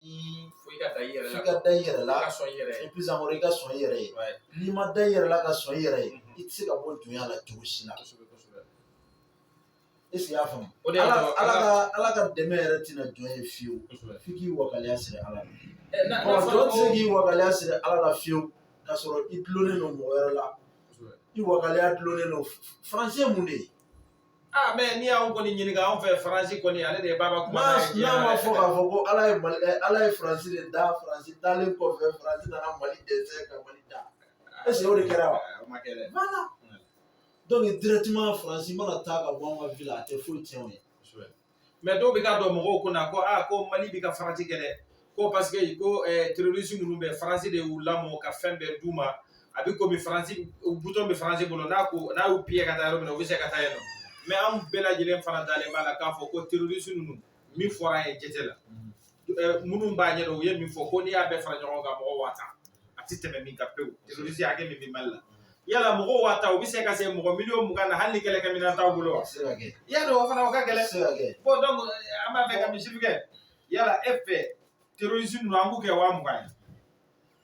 fo i ka da i yɛrɛ la, f'i ka da i yɛrɛ la, i ka sɔn i yɛrɛ ye, plus encore i ka sɔn i yɛrɛ ye, n'i ma da i yɛrɛ la ka sɔn i yɛrɛ ye, i tɛ se ka bɔ dunya la cogo si la. Est ce que i y'a faamu? O de y'a to Ala ka Ala ka dɛmɛ yɛrɛ tɛna jɔn ye fiyewu, f'i k'i wakaliya siri Ala la. Ɔ jɔn tɛ se k'i wakaliya siri Ala la fiyewu k'a sɔrɔ i dulonnen don mɔgɔ wɛrɛ la, i wakaliya dulonnen don Faransi ye mun de ye? Ah, mais n'i y'anw kɔni ɲininka anw fɛ faransi kɔni ale de ye baba kuma n'a ma fɔ k'a fɔ ko ala ye mali eh, ala ye faransi de da faransi dalen kɔfɛ faransi nana mali dɛsɛ ka mali da ah, est ce que o de kɛra wa ah, o ma kɛ dɛ voilà donc directement faransi mana taa ka bɔ an ka vie la a tɛ foyi tiɲɛ o ye mais dɔw bɛ ka don mɔgɔw kun na ko aa ko mali bɛ ka faransi gɛn dɛ ko parce que ko terorisi ninnu bɛɛ faransi de y'u lamɔ ka fɛn bɛɛ d'u ma a bɛ komi faransi butɔn bɛ faransi bolo n'a ko n'a y'u piye ka taa yɔrɔ min na u bɛ se ka taa yen nɔ mais an bɛɛ lajɛlen fana dalen b'a la k'a fɔ ko terorisi ninnu min fɔra an ye jate la minnu b'a ɲɛdɔn u ye min fɔ ko n'i y'a bɛɛ fara ɲɔgɔn kan mɔgɔ waa tan a tɛ tɛmɛ nin kan pewu terorisi hakɛ min bɛ mali la yala mɔgɔ waa tan u bɛ se ka se mɔgɔ miliyɔn mugan na hali ni kɛlɛkɛminɛn t'aw bolo wa y'a dɔn o fana o ka gɛlɛn bon donc an b'a fɛ ka misali kɛ yala e fɛ terorisi ninnu an b'u kɛ waa mugan ye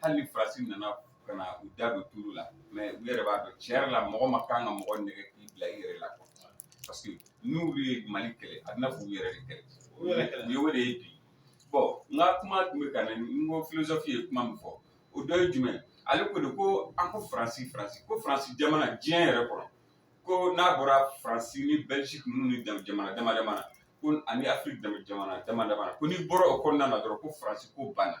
hali ni faransi nana ka na u da don tulo la mais u yɛrɛ b'a dɔn tiɲɛ yɛrɛ la mɔgɔ ma kan ka mɔgɔ nɛgɛn k'i bila i yɛrɛ la quoi parce que n'u ye mali kɛlɛ a bɛna f'u yɛrɛ de kɛlɛ u yɛrɛ kɛlɛ u ye o de ye bi bon n ka kuma tun bɛ ka na n ko filozofi ye kuma min fɔ o dɔ ye jumɛn ale ko de ko an ko faransi faransi ko faransi jamana diɲɛ yɛrɛ kɔnɔ ko n'a bɔra faransi ni bɛlgiki ninnu ni jamana dama dama na ko ani afiriki jamana dama dama na ko n'i bɔra o kɔnɔna na dɔrɔn ko faransi ko banna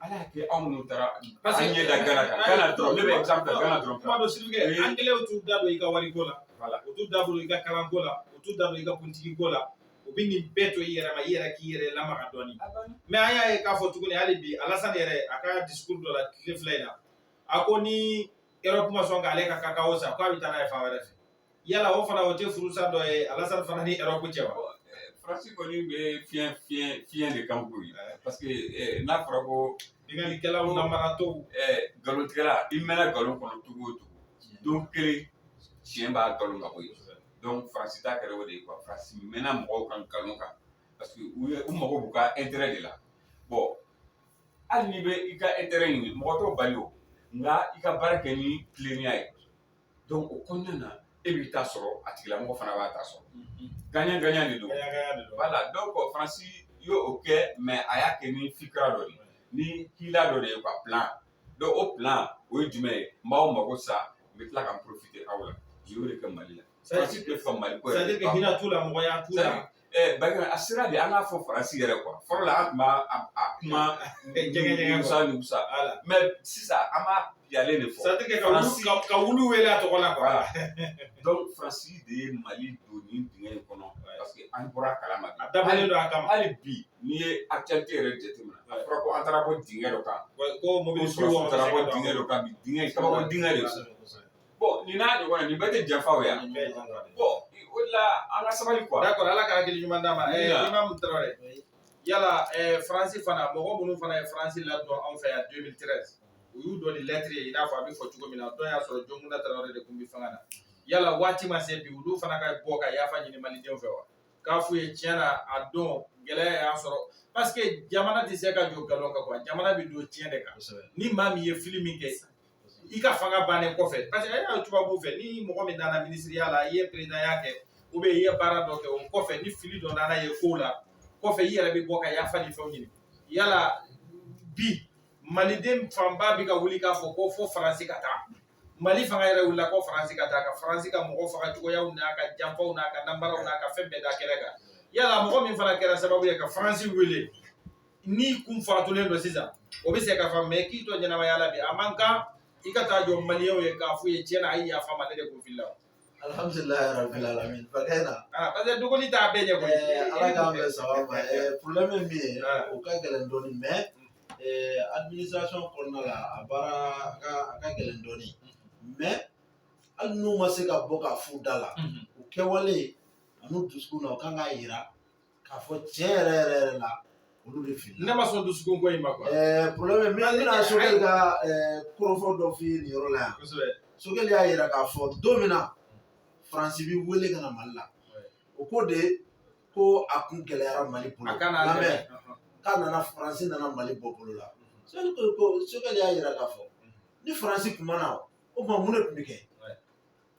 ala y'a kɛ anw minnu taara an ɲɛ da gana kan gana dɔrɔn ne bɛ exemple ta gana dɔrɔn kuma dɔ c'est-à-dire que angilɛw t'u da don i ka wariko la voilà u t'u da don i ka kalanko la u t'u da don i ka kuntigiko la u bɛ nin bɛɛ to i yɛrɛ ma i yɛrɛ k'i yɛrɛ lamaga dɔɔni mais an y'a ye k'a fɔ tuguni hali bi alasani yɛrɛ a ka discours dɔ la tile fila in na a ko ni erɔpu ma sɔn k'ale ka kakao san k'a bɛ taa n'a ye fan wɛrɛ fɛ yala o fana o tɛ furusa dɔ ye alasani fana ni erɔpu cɛ wa faransi kɔni bɛ fiɲɛ fiɲɛ fiɲɛ de kan koyi parce que eh, n'a fɔra ko binkannikɛlaw namaratɔw eh, nkalontigɛla i mɛnna nkalon kɔnɔ cogo o cogo don kelen tiɲɛ b'a nkalon ka bɔ yen donc faransi ta kɛra o de ye quoi faransi mɛnna mɔgɔw kan nkalon kan parce que u ye u mago b'u ka intérêt de la bon hali n'i bɛ i ka intérêt ɲini mɔgɔ t'o bali o nka i ka baara kɛ ni tilennenya ye donc o kɔnɔna na e b'i ta sɔrɔ a tigilamɔgɔ fana b'a ta sɔrɔ gagnant gagnant de don voilà donc faransi y'o kɛ mais a y'a kɛ ni fikira dɔ de ye ni hila dɔ de ye ka plan dɔ o plan o ye jumɛn ye n b'aw mago sa n bɛ tila ka n profiter aw la u y'o de kɛ mali la faransi tɛ faamu mali ko yɛrɛ hinɛ t'u la mɔgɔya t'u la Ɛɛ ba a sera de an k'a fɔ faransi yɛrɛ quoi fɔlɔ la tun kuma musa mais sisan an b'a jɛlen de fɔ ka wulu wele a tɔgɔ la faransi de ye mali don nin dingɛ in kɔnɔ parce que an bɔra a kalama a dabɔlen don a kama hali bi n'i ye actualité yɛrɛ jateminɛ a fɔra ko an taara bɔ dingɛ dɔ kan ko mɔgɔ taara bɔ dingɛ dɔ kan bi kabako dingɛ de Bon nin n'a ɲɔgɔn na nin bɛɛ tɛ janfa o ye wa? Nin bɛɛ ye janfa de ye. Bon o de la an ka sabali quoi. D'accord Ala ka hakili ɲuman d'an ma. Ɛɛ Amina. Imam Traore, yala ɛɛ Faransi fana mɔgɔ minnu fana ye Faransi ladon anw fɛ yan 2013 u y'u dɔ ni lettre ye i n'a fɔ a bɛ fɔ cogo min na a don y'a sɔrɔ Jɔnkunda Traore de tun bɛ fanga na. Yala waati ma se bi olu fana ka bɔ ka yafa ɲini Malidenw fɛ wa? K'a f'u ye tiɲɛ na a don gɛlɛya y'an sɔrɔ parce que jamana tɛ se ka jɔ nkalon kan quoi jamana bɛ don tiɲɛ de kan. Kosɛbɛ. Ni maa min ye fili min kɛ i ka fanga bannen kɔfɛ parce que e y'a tubabu fɛ ni mɔgɔ min nana minisiriya la i ye peresidanya kɛ ou bien i ye baara dɔ kɛ o kɔfɛ ni fili dɔ nana ye ko la kɔfɛ i yɛrɛ bɛ bɔ ka yafa ni fɛnw ɲini yala bi maliden fanba bɛ ka wuli k'a fɔ ko fo faransi ka taa mali fanga yɛrɛ wulila ko faransi ka taa ka faransi ka mɔgɔ faga cogoyaw n'a ka janfaw n'a ka nanbaraw n'a ka fɛn bɛɛ da kɛnɛ kan yala mɔgɔ min fana kɛra sababu ye ka faransi wele n'i kun fatulen don sisan o bɛ se ka faamu mais k'i to ɲɛnamaya la bi a man kan i ka taa jɔ maliyɛnw ye k'a f'u ye tiɲɛ na a ye yafa n ma ne de kun filila alhamdulilayi rabil alamin fakɛ na ah, parce que dogoli t'a bɛɛ ɲɛ koyi eh, ala k'an bɛɛ saba ma eh, problème min bɛ yen ah. o ka gɛlɛn dɔɔni mais eh, administration kɔnɔna la a baara a ka a ka gɛlɛn dɔɔni mais hali n'u ma se ka bɔ k'a f'u da la mhm. u kɛwale an'u dusukun na u kan k'a yira k'a fɔ tiɲɛ yɛrɛ yɛrɛ yɛrɛ la olu de fili ne ma sɔn dusukun ko in ma quoi ɛɛ problème min bɛna sogɛli ka ɛɛ kɔrɔfɔ dɔ f'i ye nin yɔrɔ la yan kosɛbɛ sogɛli y'a yira k'a fɔ don min na faransi bi wele ka na mali la o ko de ko a kun gɛlɛyara mali bolo a kana lamɛn k'a nana faransi nana mali bɔ bolo la sogɛli ko ko sogɛli y'a yira k'a fɔ ni faransi kun ma na o tuma mun de tun bɛ kɛ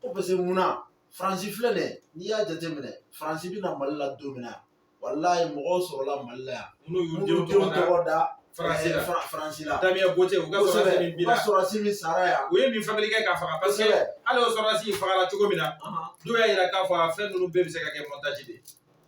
ko parce que mun na faransi filɛ nin ye n'i y'a jateminɛ faransi bɛ na mali la don min na walayi mɔgɔw sɔrɔla mali la yan minnu y'u denw tɔgɔ da faransi la faransi la Damien Boiteux u ka sɔrɔdasi min binna sɔrɔdasi min sara yan u ye min fabriquer k'a faga parce que hali o sɔrɔdasi fagala cogo min na dɔw y'a yira k'a fɔ a fɛn ninnu bɛɛ bɛ se ka kɛ montage de ye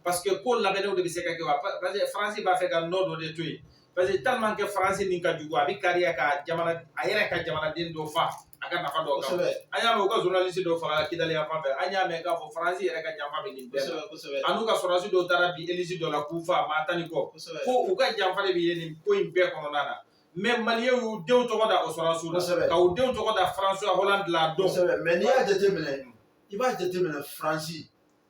parce que ko labɛnnenw de bɛ se ka kɛ wa parce que faransi b'a fɛ ka nɔ dɔ de to yen parce que tellement que faransi nin ka jugu a bɛ kari a ka jamana a yɛrɛ ka jamanaden dɔ fa a ka nafa dɔ kan an y'a mɛn u ka journaliste dɔ fagala kidali yan fan fɛ an y'a mɛn k'a fɔ faransi yɛrɛ ka janfa bɛ nin bɛɛ la an'u ka sɔrɔdasi dɔw taara bin elisi dɔ la k'u fa maa tan ni kɔ ko u ka janfa de bɛ ye nin ko in bɛɛ kɔnɔna na mais maliyɛnw y'u denw tɔgɔ da o sɔrɔdasiw la ka u denw tɔgɔ da François Hollande la a don mais n'i y'a jateminɛ i b'a jateminɛ faransi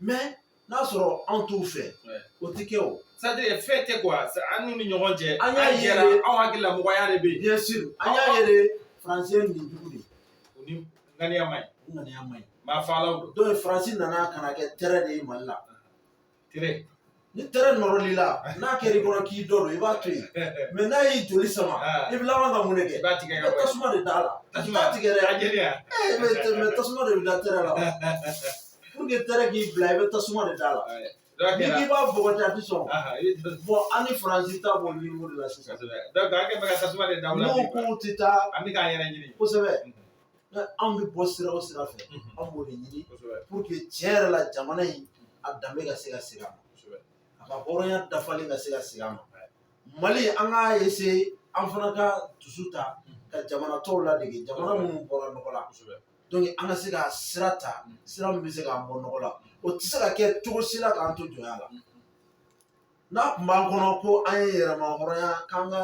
mais n'a sɔrɔ anw t'u fɛ o tɛ kɛ o c'est-à-dire fɛn tɛ quoi an n'u ni ɲɔgɔn cɛ an y'a ye anw hakili la mɔgɔya de bɛ yen bien sûr an y'a ye de faransi ye nin jugu de ye o ni ŋaniya man ɲi ŋaniya man ɲi maa faalaw don donc faransi nana ka na kɛ tɛrɛ de ye mali la tɛrɛ ni tɛrɛ nɔrɔl'i la n'a kɛr'i kɔnɔ k'i t'o dɔn i b'a to yen mais n'a y'i joli sama i bɛ laban ka mun de kɛ tasuma de d'a la i t'a tigɛ dɛ mais tasuma de bɛ da tɛrɛ la pour que tɛrɛ k'i bila i bɛ tasuma de d'a la n'i k'i b'a bɔgɔti a tɛ sɔn bon an ni faransi ta b'o niveau de la sisan donc an kɛ bɛ ka tasuma de da u la n'u k'u tɛ taa an bɛ k'an yɛrɛ ɲini kosɛbɛ anw bɛ bɔ sira o sira fɛ anw b'o de ɲini pour que tiɲɛ yɛrɛ la jamana in a danbe ka se ka segin a ma a ka hɔrɔnya dafalen ka se ka segin a ma mali an k'a essayer an fana ka dusu ta ka jamana tɔw ladege jamana minnu bɔra nɔgɔ la donc an ka se ka sira ta sira min bɛ se k'an bɔ nɔgɔ la o tɛ se ka kɛ cogo si la k'an to jɔnya la n'a tun b'an kɔnɔ ko an ye yɛrɛmahɔrɔnya k'an ka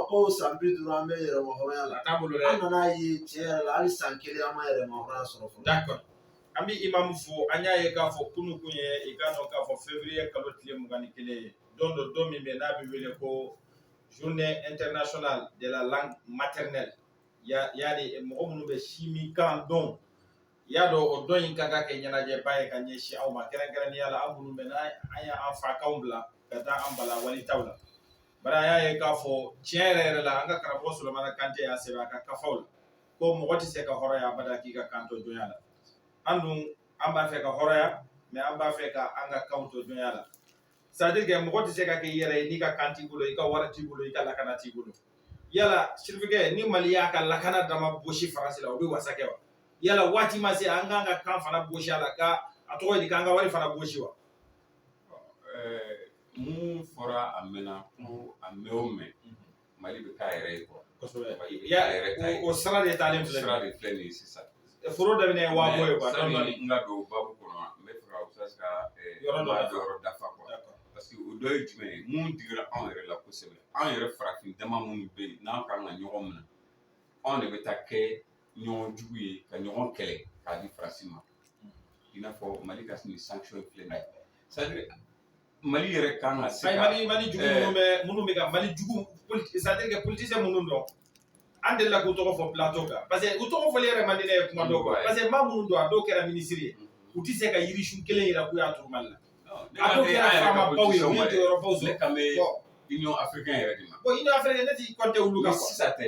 ko san bi duuru an bɛ yɛrɛmahɔrɔnya la an nan'a ye tiɲɛ yɛrɛ la hali san kelen an ma yɛrɛmahɔrɔnya sɔrɔ fɔlɔ d'accord an bɛ imamu fo an y'a ye k'a fɔ kunun tun ye i k'a dɔn k'a fɔ février kalo tile mugan ni kelen ye don dɔ don min bɛ n'a bɛ wele ko journée internationale de la langue maternelle yani mɔgɔ minnu bɛ sinminkan dɔn i y'a dɔn o don in ka kan ka kɛ ɲɛnajɛba ye ka ɲɛsin aw ma kɛrɛnkɛrɛnnenya la an minnu bɛ n'an ye an fakanw bila ka taa an bala walitaw la bari an y'a ye k'a fɔ tiɲɛ yɛrɛ yɛrɛ la an ka karamɔgɔ Solomana Kante y'a sɛbɛn a ka kafaw la ko mɔgɔ tɛ se ka hɔrɔnya abada k'i ka kan to jɔnya la an dun an b'a fɛ ka hɔrɔnya mais an b'a fɛ ka an ka kanw to jɔnya la c'est-à-dire que mɔgɔ tɛ se ka kɛ i yɛrɛ ye n'i ka kan t'i bolo i ka wari t'i bolo i ka lakana t'i bolo yala sirifukɛ ni mali y'a ka lakana dama bɔsi faransi la o bɛ wasa kɛ wa yala waati ma se an k'an ka kan fana bɔsi a la ka a tɔgɔ ye di k'an ka wari fana bɔsi wa mun fɔra a mɛnna ko a mɛn o mɛn Mali bɛ k'a yɛrɛ ye quoi kosɛbɛ Mali bɛ Ya- k'a yɛrɛ ta ye o o sira de talen filɛ sira de filɛ nin ye sisan foro daminɛ ye waa bɔ ye quoi dɔɔni dɔɔni. sani n ka don babu kɔnɔ n b'a fɛ ka ustaz ka eh, Yɔrɔ dɔ maa dafa. yɔrɔ dafa quoi D'accord. parce que o dɔ ye jumɛn ye min digira anw yɛrɛ la kosɛbɛ anw yɛrɛ farafin dama minnu bɛ yen n'an kan ka ɲɔgɔn minɛ anw de bɛ taa kɛ ɲɔgɔn jugu ye ka ɲɔgɔn kɛlɛ k'a di faransi ma i n'a fɔ mali ka nin sanction filɛ nin ye c'est à dire mali yɛrɛ kan ka se mali mali jugu minnu bɛ minnu bɛ ka mali jugu c'est-à-dire que politicien minnu don an delila k'u tɔgɔ fɔ plateau kan parce que u tɔgɔ fɔli yɛrɛ man di ne ye kuma dɔw kan parce que maa minnu don a dɔw kɛra minisiri ye u tɛ se ka yirisun kelen yira k'u y'a turu mali la a dɔw kɛra faamabaw ye u ye jɔyɔrɔbaw sɔrɔ ne kan bɛ union africaine yɛrɛ de ma bon union africaine ne tɛ compter olu kan sisan tɛ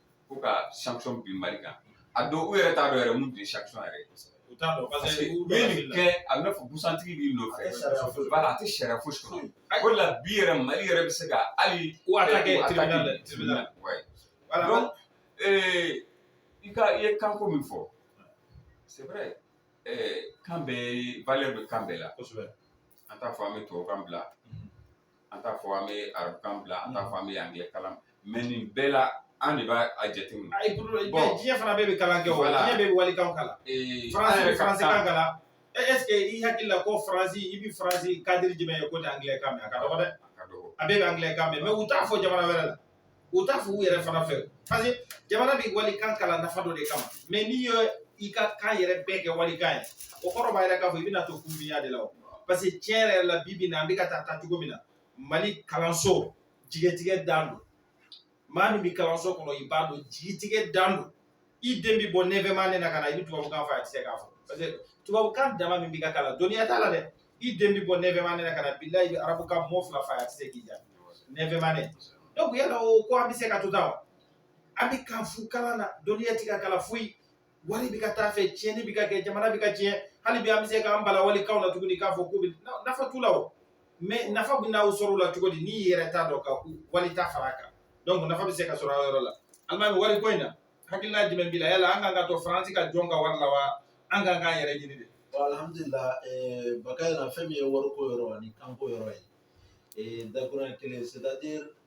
ko ka sanction bin mali kan a dɔw yɛrɛ t'a dɔn yɛrɛ mun de ye sanction yɛrɛ u t'a dɔn parce que u bɛ nin kɛ a bɛ fɔ busantigi b'i nɔfɛ voilà a tɛ sariya fosi kɔnɔ o de la bi yɛrɛ mali yɛrɛ bɛ se ka hali u attaqué tribunal la tribunal voilà donc ee i ka i ye kanko min fɔ c'est vrai ɛɛ kan bɛɛ valeur bɛ kan bɛɛ la kosɛbɛ an t'a fɔ an bɛ tubabukan bila an t'a fɔ an bɛ arabukan bila an t'a fɔ an bɛ angilɛ kalan mais nin bɛɛ la an de b'a jateminɛ. ayi bɔn diɲɛ fana bɛɛ bɛ kalan kɛ o diɲɛ bɛɛ bɛ walikan kalan. faransi bɛ faransikan kalan est-ce que i hakili la ko faransi i bɛ faransi cadre jumɛn ye k'o tɛ angilɛ kan mɛn a ka dɔgɔ dɛ. a ka dɔgɔ a bɛɛ bɛ angilɛ kan mɛn mais u t'a fɔ jamana wɛrɛ la. u t'a fɔ u yɛrɛ fana fɛ parce que jamana bɛ walikan kalan nafa dɔ de kama mais n'i ye i ka kan yɛrɛ bɛɛ kɛ walikan ye o kɔrɔ b'a yira k'a fɔ i bɛna to kunfinya de la o parce que tiɲɛ yɛrɛ la bi bi na an bɛ ka taa taa cogo min na mali kalanso jigitigɛ dan don maa min bɛ kalanso kɔnɔ i b'a dɔn jigitigɛ dan don i den bi bɔ neuvième année na ka na i bɛ tubabukan fɔ a tɛ se k'a fɔ parce que tubabukan dama min bɛ ka kalan dɔnniya t'a la dɛ i den bi bɔ neuvième année na ka na bilayi arabukan mot fila fɔ a tɛ se k'i jaabi neuvième année donc yala o ko an bɛ se ka to tan wa an bɛ kan fu kalan na dɔnniya tɛ ka kalan foyi wari bɛ ka taa a fɛ tiɲɛni bɛ ka kɛ jamana bɛ ka tiɲɛ hali bi an bɛ se k'an bala walikanw na tuguni k'a fɔ k'u bɛ nafa t'u la o mais nafa bɛ n'aw sɔrɔ o la cogo di n'i y'i yɛrɛ ta dɔn ka wali ta fara a kan donc nafa bɛ se ka sɔrɔ a yɔrɔ la alimami wari ko in na hakilina jumɛn b'i la yala an kan ka to faransi ka jɔn ka wari la wa an kan k'an yɛrɛ ɲini de alhamdulilah eh, bakari na fɛn min ye wariko yɔrɔ ani kanko yɔrɔ ye eh, dakuruɲɛ kelen c'est à dire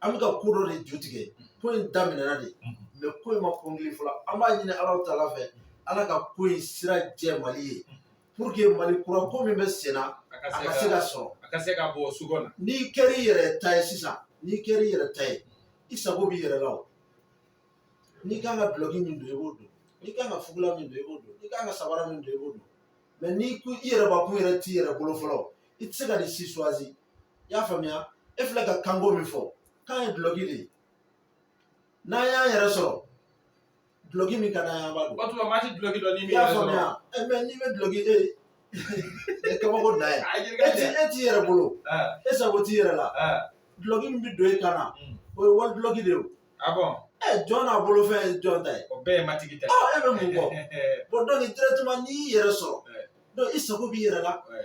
an bɛ ka ko dɔ de ju tigɛ ko in daminɛna de mais ko in ma kɔnkili fɔlɔ an b'a ɲini ala taala fɛ ala ka ko in sira jɛ mali ye pour que mali kura ko min bɛ sen na a ka se ka sɔrɔ a ka se ka bɔ sugo na n'i kɛra i yɛrɛ ta ye sisan n'i kɛra i yɛrɛ ta ye i sago b'i yɛrɛ la o n'i kan ka dulɔki min don i b'o don n'i kan ka fugula min don i b'o don n'i kan ka sabara min don i b'o don mais n'i ko i yɛrɛ bakun yɛrɛ t'i yɛrɛ bolo fɔlɔ i tɛ se ka nin si choisi i y'a faamuya e filɛ ka kanko min fɔ kan ye dulɔki de ye n'an y'an yɛrɛ sɔrɔ dulɔki min ka d'an ye an b'a don o waati maa ti dulɔki don n'i m'i yɛrɛ sɔrɔ. faamuya ɛ mais n'i bɛ dulɔki e e kabako dan ye A ye e t'i e t'i yɛrɛ bolo Ah, e sago t'i yɛrɛ la ah, dulɔki min bɛ don e kan na Mm. o ye wali dulɔki de ye o. ah bon, ɛ jɔn n'a bolo fɛn ye jɔn ta ye o bɛɛ ye matigi ta ye. ɔ e bɛ mun kɔ bon donc directement n'i y'i yɛrɛ sɔrɔ Ouais. donc i sago b'i yɛrɛ la Ouais.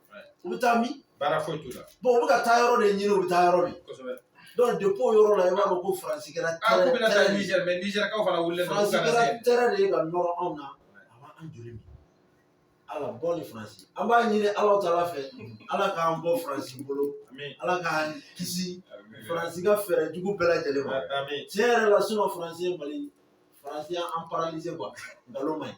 u bɛ taa min baara foyi t'u la u bɛ ka taa yɔrɔ de ɲini u bɛ taa yɔrɔ min kosɛbɛ donc depuis o yɔrɔ la i b'a dɔn ko faransi kɛra ah, tɛrɛ faransi kɛra tɛrɛ de ye ka nɔrɔ anw na a b'an joli min ala bɔ ni faransi an b'a ɲini ala taala fɛ ala k'an bɔ faransi bolo ala k'an kisi faransi ka fɛɛrɛ jugu bɛɛ lajɛlen ma tiɲɛ yɛrɛ la sinon faransi ye mali faransi y'an paralysé quoi nkalon man ɲi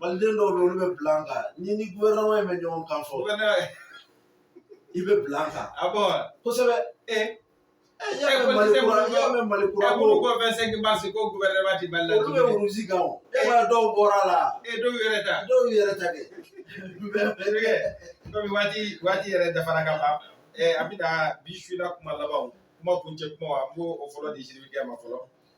maliden dɔw bɛ olu bɛ bila an kan ni ni gouvernement in bɛ ɲɔgɔn kan fɔ i bɛ bila an kan a bon kosɛbɛ ee y'a mɛn mali kura y'a mɛn mali kura ko ko fɛn sɛnki baasi ko gouvernement ti mali la olu bɛ russie kan o e ka dɔw bɔra a la ee dɔw yɛrɛ ta dɔw yɛrɛ ta kɛ komi waati waati yɛrɛ dafara ka ban ɛɛ an bɛ na bi su la kuma labanw kuma kuncɛ kuma an b'o o fɔlɔ di sidibekɛ ma fɔlɔ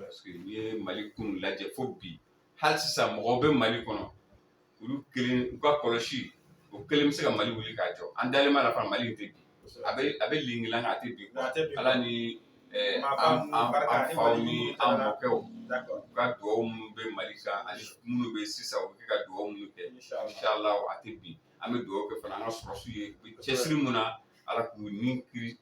parce que n'i ye mali kun lajɛ fo bi hali sisan mɔgɔw bɛ mali kɔnɔ olu kelen u ka kɔlɔsi o kelen bɛ se ka mali wuli k'a jɔ an dalen b'a la fana mali tɛ bin a bɛ a bɛ lingilanga a tɛ bin ala ni an faw ni an mɔkɛw u ka dugawu minnu bɛ mali kan ani minnu bɛ sisan u bɛ ka dugawu minnu kɛ inshallah a tɛ bin an bɛ dugawu kɛ fana an ka sɔrɔsiw ye cɛsiri mun na ala k'u ni kisi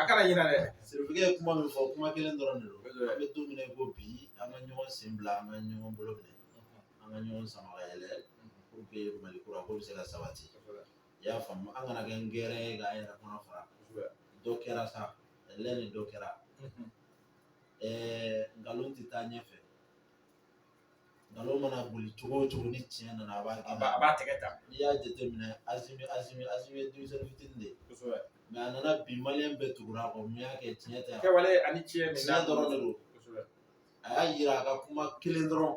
a kana ɲinɛ dɛ sidibekɛ ye kuma min fɔ kuma kelen dɔrɔn de don an bɛ don min na i ko bi an ka ɲɔgɔn sen bila an ka ɲɔgɔn bolo minɛ an ka ɲɔgɔn sama ka yɛlɛ pour que mali kura ko bɛ se ka sabati i y'a faamu an kana kɛ nkɛrɛn ye k'an yɛrɛ kɔnɔ fara dɔ kɛra sa ɛlɛ ni dɔ kɛra ɛɛ nkalon tɛ taa ɲɛfɛ nkalon mana boli cogo o cogo ni tiɲɛ nana a b'a gɛn a b'a tɛgɛ ta n'i y'a jateminɛ asimi asimi asimi ye denmisɛnnin fitinin de ye kosɛbɛ mais a nana bi maliyɛn bɛɛ tugura a kɔ mun y'a kɛ tiɲɛ tɛ a kɛwale ani tiɲɛ min tiɲɛ dɔrɔn de don kosɛbɛ a y'a yira a ka kuma kelen dɔrɔn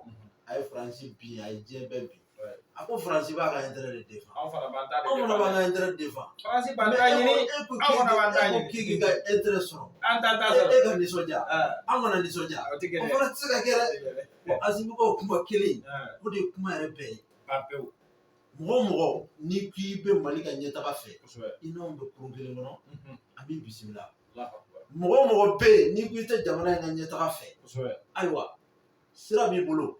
a ye faransi bin a ye diɲɛ bɛɛ bin a ko faransi b'a ka intérêt de défend anw fana b'an ta de anw fana b'an ka intérêt défend faransi b'an ta ɲini anw fana b'an ta ɲini k'i k'i ka intérêt sɔrɔ an t'an ta sɔrɔ e ka nisɔndiya an kana nisɔndiya o tɛ kɛ dɛ o fana tɛ se ka kɛ dɛ bon Asimi ka o kuma kelen o de ye kuma yɛrɛ bɛɛ ye ban pewu mɔgɔ o mɔgɔ n'i k'i bɛ Mali ka ɲɛtaga fɛ i n'anw bɛ kurun kelen kɔnɔ an b'i bisimila mɔgɔ o mɔgɔ bɛ yen n'i ko i tɛ jamana in ka ɲɛtaga fɛ ayiwa sira b'i bolo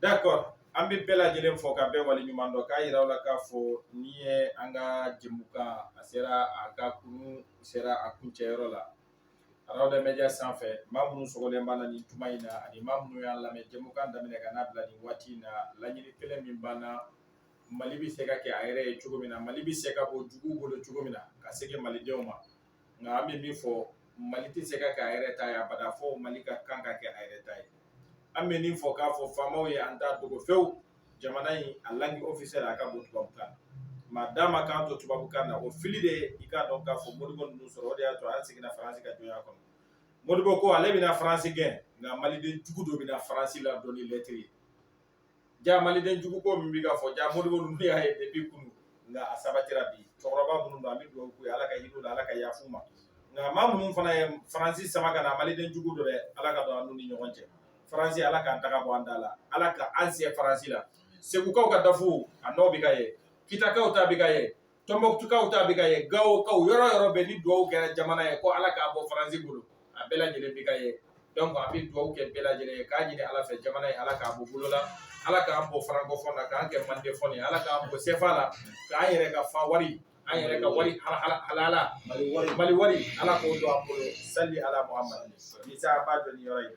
D'accord an bɛ bɛɛ lajɛlen fo ka bɛɛ waleɲuman dɔn k'a yira aw la k'a fɔ nin ye an ka jɛmukan a sera a ka kun sera a kuncɛyɔrɔ la Arawada Media sanfɛ maa minnu sogolen b'an na nin tuma in na ani maa minnu y'an lamɛn jɛmukan daminɛ ka n'a bila nin waati in na laɲini kelen min b'an na mali bɛ se ka kɛ a yɛrɛ ye cogo min na mali bɛ se ka bɔ jugu bolo cogo min na ka segin malidenw ma nka an bɛ min fɔ mali tɛ se ka kɛ a yɛrɛ ta ye abada fo mali ka kan ka kɛ a yɛrɛ ta ye an bɛ nin fɔ k'a fɔ faamaw ye an t'a dogo fewu jamana in a langue officielle a ka bɔ tubabukan ma d'a ma k'an to tubabukan na o fili de i k'a dɔn k'a fɔ modibo ninnu sɔrɔ o de y'a to an seginna faransi ka jɔnya kɔnɔ modibo ko ale bɛna faransi gɛn nka maliden jugu dɔ bɛna faransi ladon ni lɛtiri ye ja maliden jugu ko min bɛ ka fɔ ja modibo ninnu y'a ye depuis kunu nka a sabatira bi cɛkɔrɔba minnu don an bɛ dugawu k'u ye ala ka hin'u la ala ka yafa u ma nka maa minnu fana ye faransi sama ka na maliden jugu dɔ dɛ ala ka don an n'u ni ɲɔgɔn cɛ faransi ala k'an taga bɔ an da la ala ka an se faransi la segukaw ka dafu a nɔ bɛ ka ye kitakaw ta bɛ ka ye tɔnbɔkutukaw ta bɛ ka ye gawokaw yɔrɔ yɔrɔ bɛɛ ni duwawu kɛra jamana ye ko ala k'a bɔ faransi bolo a bɛɛ lajɛlen bɛ ka ye donc an bɛ duwawu kɛ bɛɛ lajɛlen ye k'a ɲini ala fɛ jamana ye ala k'a bɔ bolo la ala k'an bɔ farankɔfɔn na k'an kɛ mandefɔn ye ala k'an bɔ sefa la k'an yɛrɛ ka fa wari an yɛrɛ ka wari halala mali wari ala k'o don an bolo sali ala muhamadu isa b'a dɔn ni yɔrɔ ye